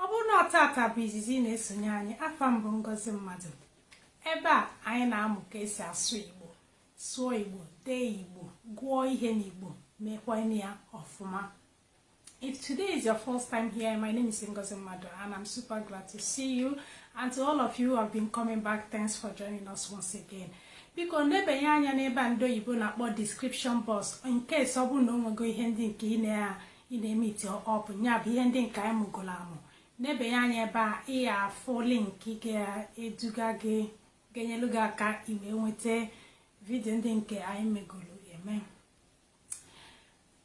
Ọ bụrụ na taata bụ izizi ị na-esonye anyị afa m bụ Ngozi Mmadụ ebe a anyị na-amụ ka esi asụ Igbo sụọ Igbo dee Igbo gụọ ihe n'Igbo mekwa ya ọfụma If today is your first time here, my name is Ngozi Mmadụ and I'm super glad to see you. And to all of you who have been coming back, thanks for joining us once again. biko nebenye anya n'ebe ndị oyibo na-akpọ description box in case ọ bụrụ na o nwego ihe ndị nke ị na ị na-emeeti up nya bụ ihe ndị nke anyị mụgolo amụ nebenye anya ebe a ị ya-afụ link ga-eduga gị ga-enyelu gị aka ị wee nweta vidio ndị nke anyị megolo eme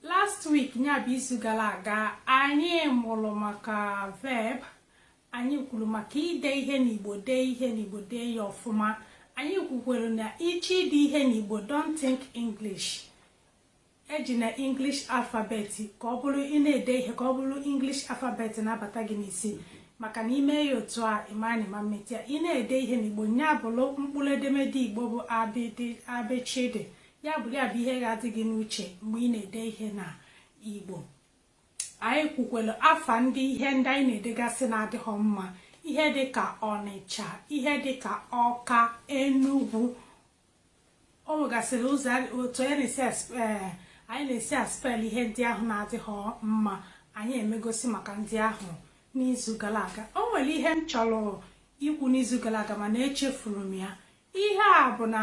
last week nya bụ izu gara aga anyị mụrụ maka verb anyị kwuru maka ide ihe n'igbo dee ihe n'igbo dee ya ọfụma anyị kwukwere na ị chọọ ide ihe n'igbo don't think english Ejina English alphabet ka ọ bụrụ ị na-ede ihe ka ọ bụrụ English alphabet na-abata gị n'isi maka na ị mee ya otu a ị mara na ị ma emeta ya ị na-ede ihe n'Igbo nya bụrụ mkpụrụ edemede Igbo bụ abịchịdị ya bụrụ ya bụ ihe ga-adị gị n'uche mgbe ị na-ede ihe na Igbo anyị kwukwere afa ndị ihe ndị anyị na-edegasị na-adịghị mma ihe dịka Ọnịcha ihe dịka Ọka Enugwu O nwegasịrị ụzọ otu anyị na-esi eh, anyị na-esi aspel ihe ndị ahụ na-adịghị mma anyị emegosi maka ndị ahụ n'izu gara aga o nwere ihe m chọrọ ikwu n'izu gara aga mana echefuru m ya ihe a bụ na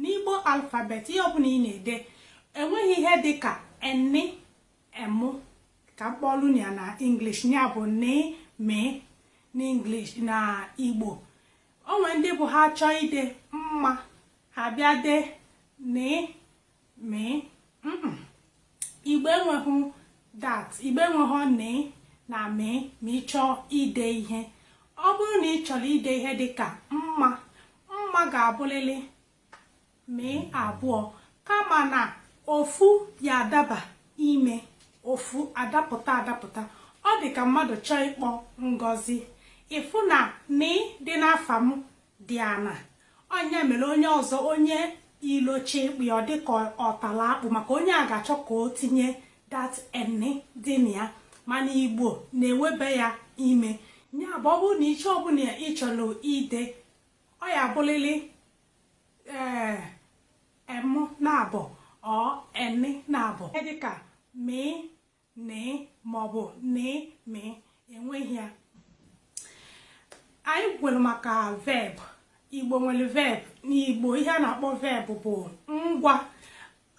n'igbo alfabet ihe ọbụla ị na-ede enweghị ihe dị ka eni emu ka m kpọlụ ya na English ya bụ ni mi n'English na Igbo O nwere ndị bụ ha chọọ ide mma ha bịa dee ne me Igbo enweghị that Igbo enweghị ne na me ma ị chọọ ide ihe ọ bụrụ na ị chọrọ ide ihe dị ka mma mma ga-abụlịlị me abụọ kama na ofu ya-adaba ime ofu adapụta adapụta ọ dị ka mmadụ chọọ ịkpọ Ngozi ị fụ na ni dị n'afa m dị ana ọ nya mere onye ọzọ onye ilo chọọ ịkpọ ya ọ dị ka ọ tala akpụ maka onye a ga-achọ ka o tinye that eni dị na ya mana igbo na-ewebe ya ime ya bụ ọ bụrụ na ihe ọbụla ị chọrọ ide ọ ya-abụlịlị emu naabọ or eni naabọ dịka mi ni maọbụ ni mi enweghị ya anyị kwuru maka verb igbo nwere verb n'igbo ihe a na-akpọ verb bụ ngwa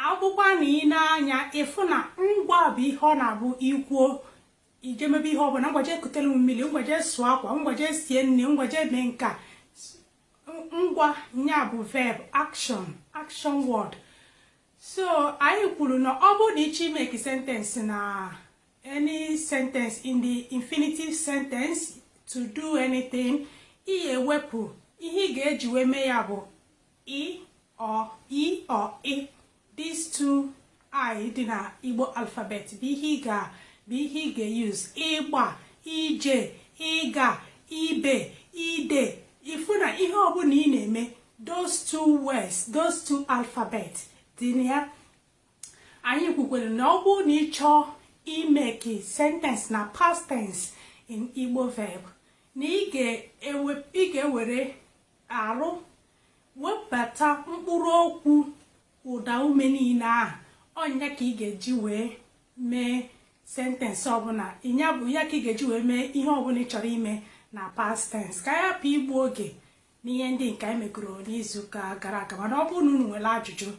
ọ bụkwanụ ị nee anya ị fụ na ngwa bụ ihe ọ na-abụ i kwuo ije mebe ihe ọbụla ngwa jee kutere m mmiri ngwa jee sụọ akwa ngwa jee sie nri ngwa jee mee nke a S- ngwa nya bụ verb action action word so anyị kwuru na ọ bụrụ na ị chọọ imake sentence na any sentence in the infinitive sentence to do anything ị ga-ewepụ ihe ị ga-eji wee mee ya bụ i or ị these two i dị na Igbo alphabet bụ ihe ị ga bụ ihe ị ga-use ịgba ije ịga ibe ide ị fụ na ihe ọbụla ị na-eme those two words those two alphabet dị na ya anyị kwukwere na ọ bụrụ na ị chọọ imake sentence na past tense in Igbo verb na ị ga-ewere R, webata mkpụrụ okwu ụda ume niile ahụ, ọ nya ka ị ga-eji wee mee sentence ọbụla, ya bụ ya ka ị ga-eji wee mee ihe ọbụla ị chọrọ ime na past tense. Ka anyị hapụ igbu oge n'ihe ndị nke anyị megoro n'izuụka gara aga, mana ọ bụrụ na unu nwere ajụjụ,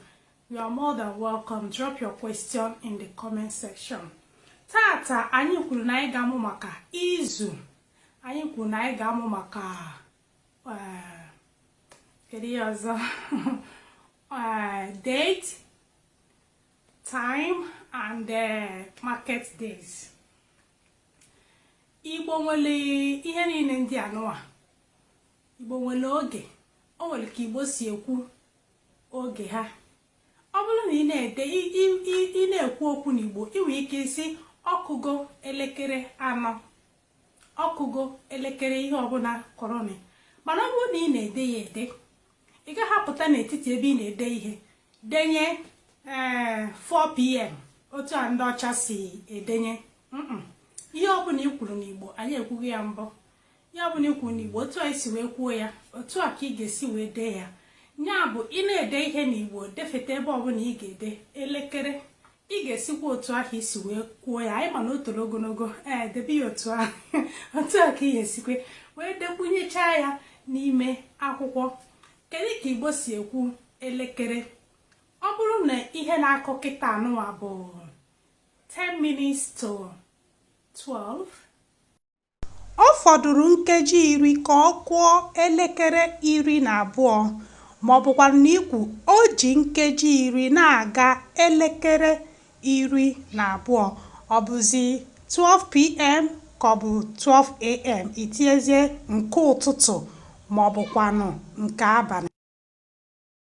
you are more than welcome. Drop your question in the comment section. Taata anyị kwuru na anyị ga-amụ maka izu, anyị kwuru na anyị ga-amụ maka kedu ihe ọzọ date time and uh, market days igbo nwere ihe niile ndị anụwa igbo nwere oge o nwere ka igbo si ekwu oge ha ọ bụrụ na ị na-ede ị na-ekwu okwu n'igbo ị nwere ike ịsị ọ kụgo elekere anọ Ọ kụgo elekere ihe ọbụla kụrụnị mana ọ bụrụ na ị na-ede ya ede ị gaghị apụta n'etiti ebe ị na-ede ihe denye ee 4pm otu a ndị ọcha si edenye mm ihe ọbụla i kwuru n'Igbo anyị ekwugo ya mbụ ihe ọbụla i kwuru n'Igbo otu a i si wee kwuo ya otu a ka ị ga-esi wee dee ya ya bụ ị na-ede ihe n'Igbo defeta ebe ọbụla ị ga-ede elekere Ị ga-esikwa otu ahụ i si wee kwuo ya anyị ma na o toro ogologo ee debe ya otu ahụ otu a ka ị ga-esikwe wee dekwunyechaa ya n'ime akwụkwọ kedu ka igbo si ekwu elekere ọ bụrụ na ihe na-akụ kịta anụwa bụ 10 minutes to 12 Ọ fọdụrụ nkeji iri ka ọ kụọ elekere iri na abụọ, ma ọ bụkwanụ na i kwuo o ji nkeji iri na-aga elekere iri na abụọ, ọ bụzi 12pm ka ọ bụ 12am, i tinyezie nke ụtụtụ ma ọ bụkwanụ nke abalị.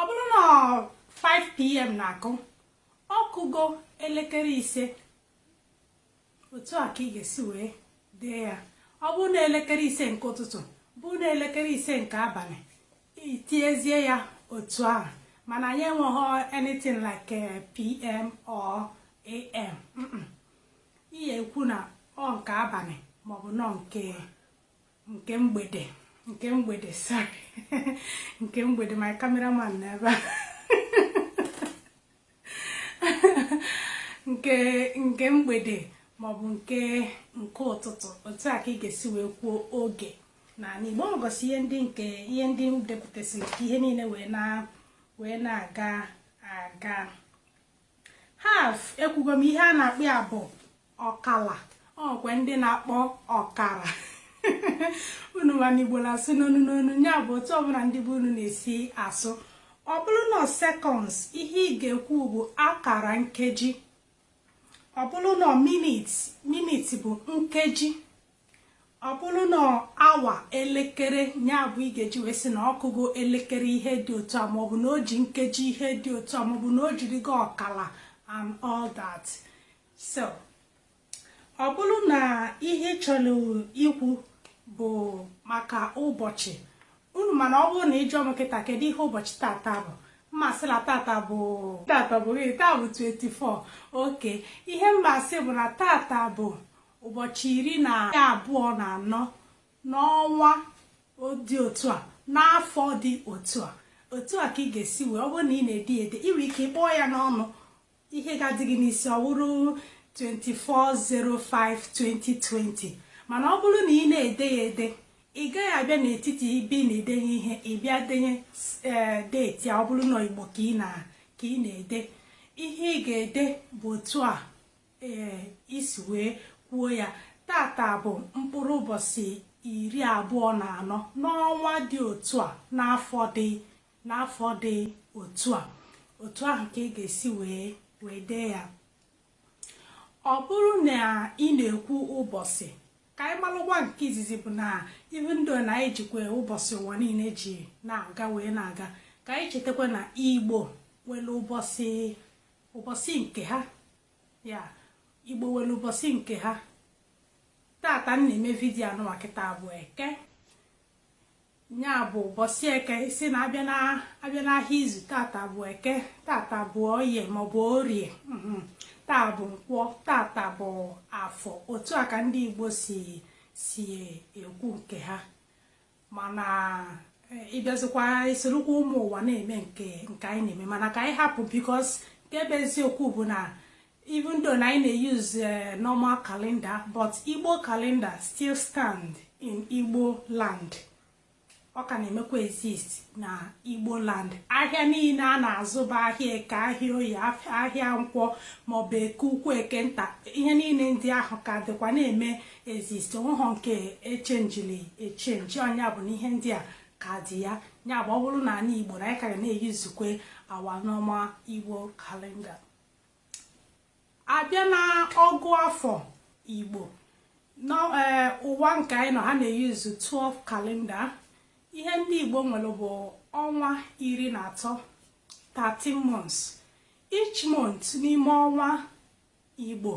ọ bụrụ na 5pm na-akụ ọ kụgo elekere ise otu a ka ị ga-esi wee dee ya ọ bụrụ na elekere ise nke ụtụtụ bụrụ na elekere ise nke abalị i tiezie ya otu ahụ mana anyị enweghị anything like eh, pm or am ihe ekwu na ọ nke abalị maọbụ na ọ nke nke mgbede nke mgbede sorry nke mgbede my cameraman na ebe a nke nke mgbede maọbụ nke nke ụtụtụ otu a ka ị ga-esi wee kwuo oge na n'igbo m gosi ihe ndị nke ihe ndị m depụtasịrị ka ihe niile wee na wee na-aga aga Half ekwugo m ihe a na-akpọ ya bụ ọkala o nwekwe ndị na-akpọ ọkara unu ma na igbo na-asụ n'onu n'onu ya bụ otu ọbụla ndị be unu na-esi asụ ọ bụrụ na seconds ihe ị ga-ekwu bụ akara nkeji ọ bụrụ na minit minit bụ nkeji Ọ bụrụ na awa elekere ya bụ ị ga-eji wee sị na ọ kụgo elekere ihe dị otu a maọbụ na o ji nkeji ihe dị otu a maọbụ na o jirigo ọkala and all that so ọ bụrụ na ihe ị chọrọ ikwu bụ maka ụbọchị unu ma na ọ bụrụ na ị jụọ m kịta kedu ihe ụbọchị tata bụ m ma-asị na tata bụ tata bụ gị taa bụ 24 okay ihe m ma-asị bụ na tata bụ ụbọchị iri na abụọ na anọ n'ọnwa dị otu a n'afọ dị otu a otu a ka ị ga-esi wee ọ bụrụ na ị na-ede ede ị nwere ike ị kpọọ ya n'ọnụ ihe ga-adị gị n'isi ọ bụrụ 24-05-2020 mana ọ bụrụ na ị na-ede ya ede ị gaghị abịa n'etiti ibe ị na-edenye ihe ị bịa denye eh, date a ọ bụrụ na igbo ka ị na-ede ihe ị ga-ede bụ otu a Ee, i si wee kwuo ya, tata bụ mkpụrụ ụbọchị iri abụọ na anọ n'ọnwa dị otu a n'afọ dị n'afọ dị otu a. Otu ahụ ka ị ga-esi wee wee dee ya. Ọ bụrụ na ị na-ekwu ụbọchị, ka anyị malụkwa nke izizi bụ na even though na anyị jikwa ụbọchị ụwa niile ji na-aga wee na-aga, ka anyị chetakwa na Igbo nwere ụbọchị ụbọchị nke ha ya igbo nwere ụbọchị nke ha tata m na-eme vidiyo a nụwa kịta bụ eke ya bụ ụbọchị eke sị na a bịa n'ahịa izu tata bụ eke tata bụ oye maọbụ orie mhm. taa bụ nkwọ tata bụ afọ otu a ka ndị igbo si si ekwu nke ha mana ịbịazikwa isorokwa ụmụ ụwa na-eme nke nke anyị na-eme mana ka anyị hapụ because nke bụ eziokwu bụ na even though na anyị na-euse eh, normal calendar but igbo calendar still stand in igbo land ọ ka na-emekwa exist na igbo land ahịa niile a na-azụ bụ ahịa eke ahịa oye ahịa nkwọ maọbụ eke ukwu eke nta ihe niile ndị ahụ ka dịkwa na-eme exist onweghọ nke e changeli echange ọ nya bụ na ihe ndị a ka dị ya ya bụ ọ bụrụ na anị igbo na anyị ka ga na-eusekwa our normal igbo calendar abịa na ọgụ afọ igbo n'ụwa e, nke anyị nọ ha na-euse 12 calendar ihe ndị igbo nwere bụ ọnwa iri na atọ 13 months each month n'ime ọnwa Igbo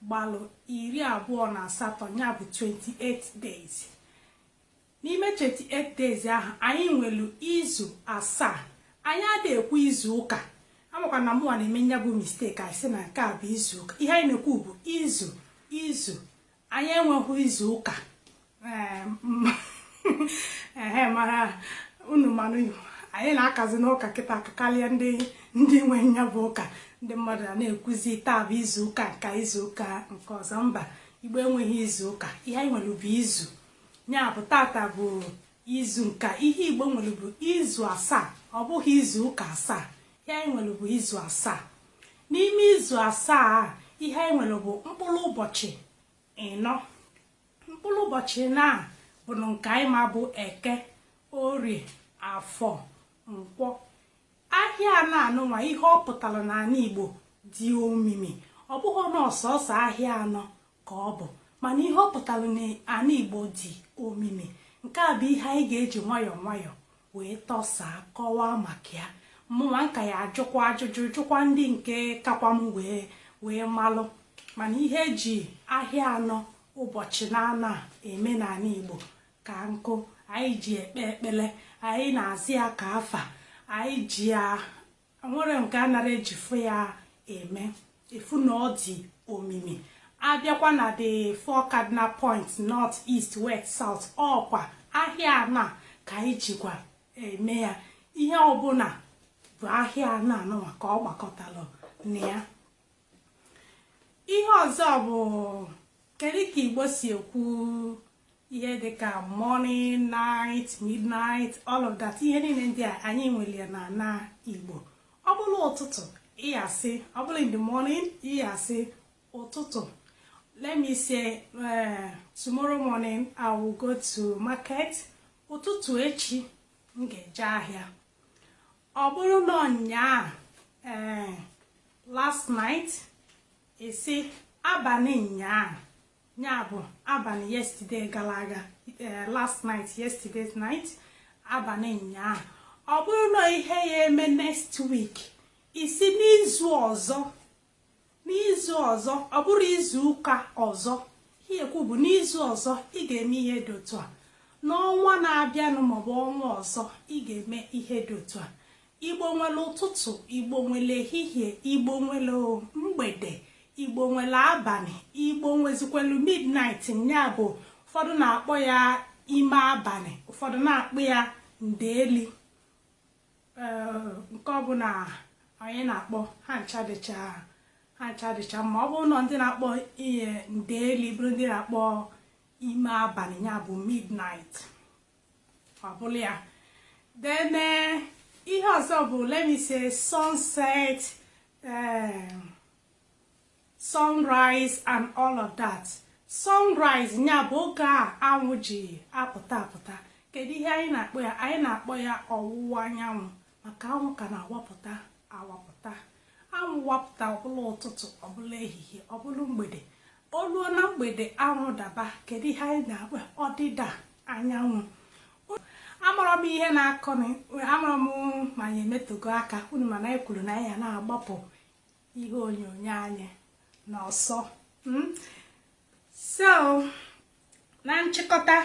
gbalụ iri abụọ na asatọ ya bụ 28 days. N'ime 28 days ahụ, anyị nwelu izu asaa. Anyị adịghị ekwu izu ụka. Amakwa m na mụnwa na-eme ya bụ mistake anyị sị na nke a bụ izu ụka. Ihe anyị na-ekwu bụ izu izu anyị enweghị izu ụka ehe mara unu manụ anyị na-akazinụ ụka kịta aka karịa ndị ndị nwe nya bụ ụka ndị mmadụ a na-ekwuzi taa bụ izu ụka nka izu ụka nke ọzọ mba igbo enweghị izu ụka ihe anyị nwere bụ izu ya bụ tata bụ izu nka ihe igbo nwere bụ izu asaa ọ bụghị izu ụka asaa Ihe anyị nwere bụ izu asaa. N'ime izu asaa a, ihe anyị nwere bụ mkpụrụ ụbọchị ịnọ. Mkpụrụ ụbọchị ịnọ a bụnụ nke anyị ma bụ eke, orie, afọ, nkwọ. Ahịa anọ anụnwa ihe ọ pụtara n'ala Igbo dị omimi. Ọ bụghị na ọ sọsọ ahịa anọ ka ọ bụ mana ihe ọ pụtara na ana Igbo dị omimi. Nke a bụ ihe anyị ga-eji nwayọọ nwayọọ wee tọsaa, kọwaa maka ya. Mụnwa m ka ya-ajụkwa ajụjụ, jụkwa ndị nke kakwa m wee wee malụ. Mana ihe e ji ahịa anọ ụbọchị naanọ a eme n'ala Igbo ka nkụ. Anyị ji ekpe ekpele, anyị na-azụ ya ka afịa, anyị ji ya enwere nke a nara ejifụ ya eme ị fụ na ọ dị omimi abịakwa na the four cardinal points north east west south ọkwa ahịa anọ ka anyị jikwa eme ya ihe ọbụla bụ ahịa anọ anụnwa ka ọ gbakọtara na ya ihe ọzọ bụ kedu ka igbo si ekwu ihe dị ka morning night midnight all of that ihe niile ndị a anyị nwere ya na na igbo ọ bụrụ ụtụtụ ị ya-asị ọ bụrụ in the morning ị ya-asị ụtụtụ let me say uh, tomorrow morning i will go to market ụtụtụ echi m ga-eje ahịa ọ bụrụ na ụnyaa ee eh, last night ị sị abalị nyaa ya bụ abalị yesterday gara aga eh, last night yesterday's night abalị ụnyaahụ ọ bụrụ na ihe ya-eme next week ị sị n'izu ọzọ n'izu ọzọ ọ bụrụ izu ụka ọzọ ihe ekwu bụ n'izu ọzọ ị ga-eme ihe dị otu a n'ọnwa na-abịanụ maọbụ ọnwa ọzọ ị ga-eme ihe dị otu a Igbo nwere ụtụtụ, Igbo nwere ehihie, Igbo nwere mgbede, Igbo nwere abalị, Igbo nwezikwelu midnight nya bụ ụfọdụ na-akpọ ya ime abalị, ụfọdụ na-akpọ ya ndeeli nke ọbụla onye na-akpọ ha ncha dịcha ha ncha dịcha mma ọ bụrụ na ndị na-akpọ ya ndeeli bụrụ ndị na-akpọ ime abalị ya bụ midnight ọ bụla ya then eh, ihe ọzọ bụ let me say sunset eh, sunrise and all of that sunrise ya bụ oge anwụ ji apụta apụta kedu ihe anyị na-akpọ ya anyị na-akpọ ya ọwụwa anyanwụ maka anwụ ka na-awapụta awapụta anwụ wapụta ọ bụla ụtụtụ ọ bụla ehihie ọ bụla mgbede o ruo na mgbede anwụ daba kedu ihe anyị na-akpọ ọdịda anyanwụ amarọ m ihe na-akụ amarọ m ma anyị emetogo aka unu ma na anyị kwuru na anyị ya na-agbapụ ihe onyonyo anyị n'ọsọ hmm? so na nchịkọta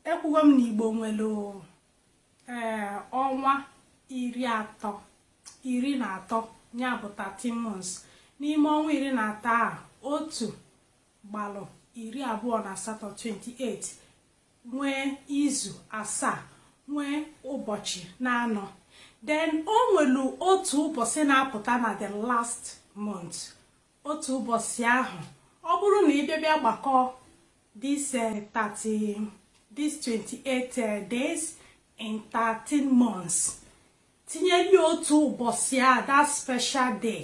ekwugo m na igbo nwere ee eh, ọnwa iri atọ iri na atọ ya bụ 13 months n'ime ọnwa iri na atọ a otu gbalụ iri abụọ na asatọ 28 nwee izu asaa nwee ụbọchị na anọ then o nwelu otu ụbọchị na-apụta na the last month Otu ụbọchị ahụ, ọ bụrụ na ị bịa bịa gbakọọ this eh, 30 this 28 eh, days in 13 months tinyeli otu ụbọchị a that special day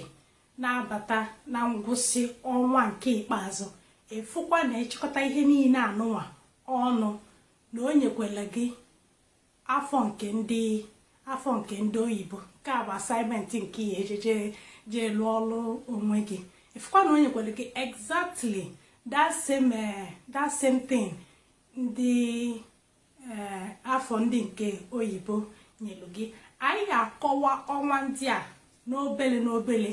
na-abata na ngwụsị ọnwa nke ikpeazụ ị fụkwa na e chịkọta ihe niile anụnwa ọnụ na o nyekwela gị afọ nke ndị afọ nke ndị oyibo nke a bụ assignment nke ị ya-eje jee lụọ ọlụ onwe gị ị fụkwa na o nyekwelu gị exactly that same eh, that same thing ndị eh, afọ ndị nke oyibo nyelu gị anyị ya-akọwa ọnwa ndị a n'obele n'obele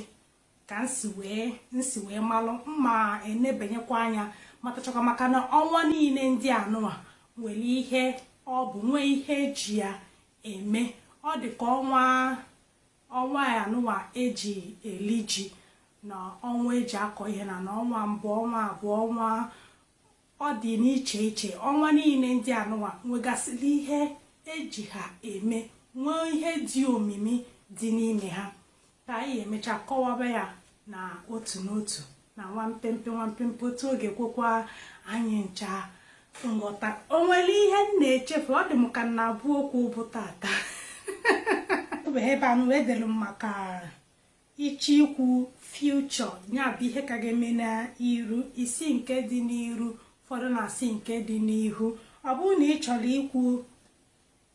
ka m si wee m si wee malụ mma enebanyekwa anya matachakwa maka na ọnwa niine ndị a nụwa nwere ihe ọ bụ nwee ihe e ji ya eme ọ dị ka ọnwa ọnwa a nụwa e ji eli ji na ọnwa e ji akọ ihe na na ọnwa mbụ ọnwa abụọ ọnwa Ọ dị n'iche iche ọnwa niine ndị a nụwa nwegasịlị ihe e ji ha eme, nwee ihe dị omimi dị n'ime ha. Ka anyị emecha kọwaba ya na otu n'otu na nwa mpempe nwa mpempe otu ọ ga-ekwekwa anyị ncha nghọta. O nwere ihe m na-echefu? Ọ dị m ka m na-abụ okwu bụ taata. Ebe a nụwa edelu m maka Ị chọọ ikwu, future, ya bụ ihe ka ga-eme n'iru, ị sị nke dị n'iru, ụfọdụ na-asị nke dị n'ihu. Ọ bụrụ na ị chọrọ ikwu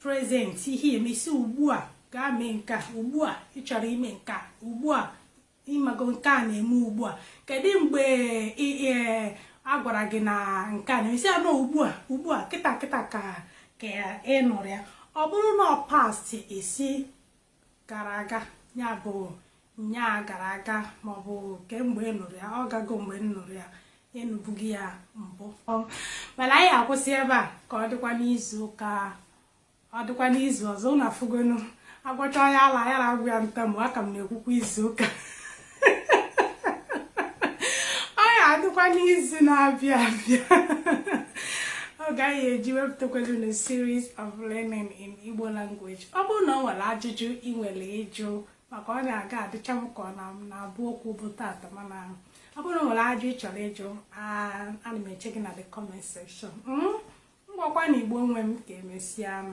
present, ihe eme ị sị ugbu a gaa mee nke a, ugbu a ị chọrọ ime nke a, ugbu a ịmago nke a na-eme ugbu a. Kedu mgbe a gwara gị na nke a na-eme? Ị sị na ọ ugbu a, ugbu a kịta kịta ka ka ị nụrụ ya. Ọ bụrụ na ọ past, ị sị gara aga ya bụ nyaa gara aga maọbụ kemgbe ị nụrụ ya ọ gago mgbe m nụrụ ya ị nụbugo ya mbụ mana anyị ya-akwụsị ebe a ka ọ dịkwa n'izu ụka ọ dịkwa n'izu ọzọ ụnụ afụgonu a gwọcha onye ala ya na-agwụ ya ntamu aka m na-ekwukwa izu ụka ọ ya-adịkwa n'izu na-abịa abịa oge anyị ya-eji wepụtakwado na series of learning in Igbo language ọ bụrụ na ọ nwere ajụjụ ị nwere ịjụ maka ọ na-aga adịcha m ka ọ na-abụ okwu bụ taata mana ọ bụrụ na o nwere ajụ ị chọrọ ịjụ ana m eche gị na the comment section ngwakwa hmm? na igbo nwe m ka e mesịanụ